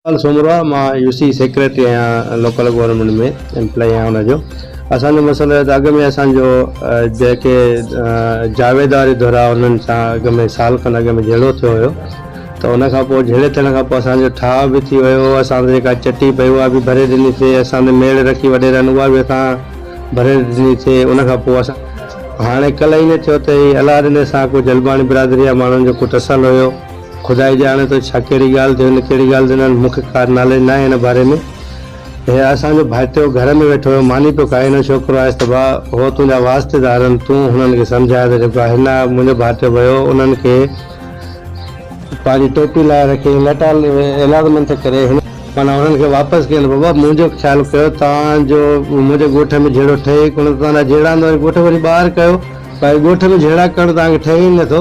ڪل سومرو آ مان يو سي سيڪريٽري آهيان لوڪل گورنمينٽ ۾ ايمپلاء آهيان ان جو اسان جو مسئلو هي ته اڳ ۾ اسان جو جيڪي جاويد واري ڌر آ انهن سان اڳ ۾ سال کن اڳ ۾ جهيڙو ٿيو هيو ته ان کان پوء جهيڙي ٿيڻ کان پوء اسان جو ٺاهه به ٿي ويو اسان سان جيڪا چٽي پئي اها به ڀري ڏني سي اسان تي ميڙ رکي وڏيرن اها به اسان ڀري ڏني سي ان کان پوء اسان هاڻي ڪل ائين ٿيو ته هي الاڏني سان ڪو جلباڻي برادري جا ماڻهن جو ڪو ٽسل هيو خدا ئي ڄاڻي ٿو ڇا ڪهڙي ڳالهه تي هن ڪهڙي ڳالهه تي نه هن مون کي ڪا ناليج ناهي هن باري ۾ هي اسان جو ڀائٽيو گهر ۾ ويٺو هيو ماني پيو کائي هن ڇوڪرو آيس ته ڀاء هو تنهنجا واسطيدار آهن تون هنن کي سمجهاء ته جيڪو هن منهنجو ڀائٽيو ويو انهن کي پنهنجي ٽوپي لاهي رکي ۽ لٽا ايلاز منٿ ڪري هن. معنيٰ هنن کي واپس ڪيو نه بابا منهنجو خيال ڪيو توهان جو منهنجي ڳوٺ ۾ جهيڙو ٺهي ئي ڪونه ته توهان جا جهيڙا هندا وڃي ڳوٺ کي وڃي ٻاهر ڪيو ڀائي ڳوٺ ۾ جهيڙا ڪرڻ توهان کي ٺهي ئي نه ٿو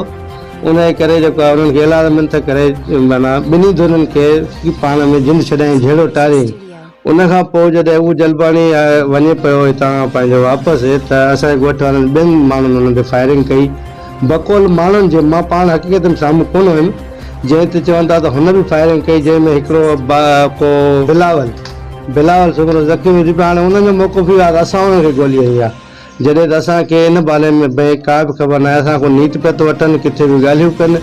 انهيء ڪري جيڪو آهي انهن کي اعلان منٿ ڪري معنيٰ ٻنهي ڌرين کي پاڻ ۾ جند ڇڏائين جهيڙو ٽارين ان کان پوء جڏهن اهو جلباڻي وڃي پيو هتان پنهنجو واپس ته اسان جي ڳوٺ وارن ٻين ماڻهن انهن تي فائرنگ ڪئي بقول ماڻهن جي مان پاڻ حقيقت ۾ سامهون ڪونه هيم جنهن تي چون ٿا ته هن به فائرنگ ڪئي جنهن ۾ هڪڙو ڪو بلاول بلاول سومرو زخمي ٿي پيو هاڻي انهن جو موقف اهو آهي ته اسان انهن کي گولي هنئي آهي. جڏهن ته اسان کي ان باري ۾ به ڪا به خبر ناهي، اسان کان نيت پيا ٿو وٺن، ڪٿي به ڳالهيون ڪن،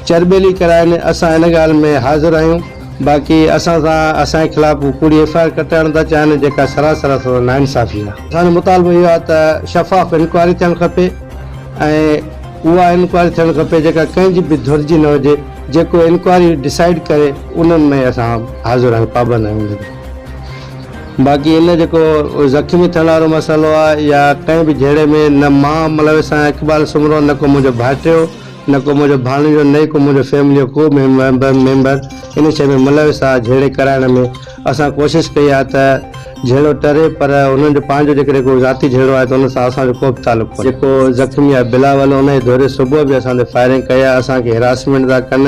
چرٻيلي ڪرائين، اسان ان ڳالهه ۾ حاضر آهيون، باقي اسان سان اسان جي خلاف ڪوڙي ايف آء آر ڪٽائڻ ٿا چاهن، جيڪا سراسر اسان سان ناانصافي آهي. اسان جو مطالبو اهو آهي ته شفاف انڪوائري ٿيڻ کپي ۽ اها انڪوائري ٿيڻ کپي جيڪا ڪنهن جي به ڌر جي نه هجي، جيڪو انڪوائري ڊسائيڊ ڪري انهن ۾ اسان حاضر آهيون، پابند آهيون. باقي ان جيڪو زخمي ٿيڻ وارو مسئلو آ يا ڪنهن به جهيڙي ۾ نه مان ملوث آهيان اقبال سومرو نه ڪو منهنجو ڀائٽيو نه ڪو منهنجو ڀاڻيجو نه ئي ڪو منهنجو فيملي جو ڪو به ميمبر ان شيء ۾ ملوث آ جهيڙي ڪرائڻ ۾ اسان ڪوشش ڪئي آ ته جهيڙو ٽري پر انهن جو پنهنجو جيڪڏهن ڪو ذاتي جهيڙو آهي ته ان سان اسان جو ڪو به تعلق ڪونهي. جيڪو زخمي آ بلاول ان جي ڌري صبح به اسان تي فائرنگ ڪئي آ اسان کي هراسمينٽ ٿا ڪن.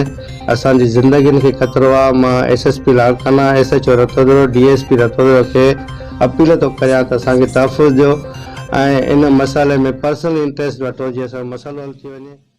اسان جي زندگين کي خطرو آ، مان S S P Larkana, S H O Ratodero, D S P Ratodero کي اپيل ٿو ڪريان ته اسان کي تحفظ ڏيو ۽ ان مسئلي ۾ پرسنل انٽريسٽ وٺو جيئن اسان جو مسئلو حل ٿي وڃي.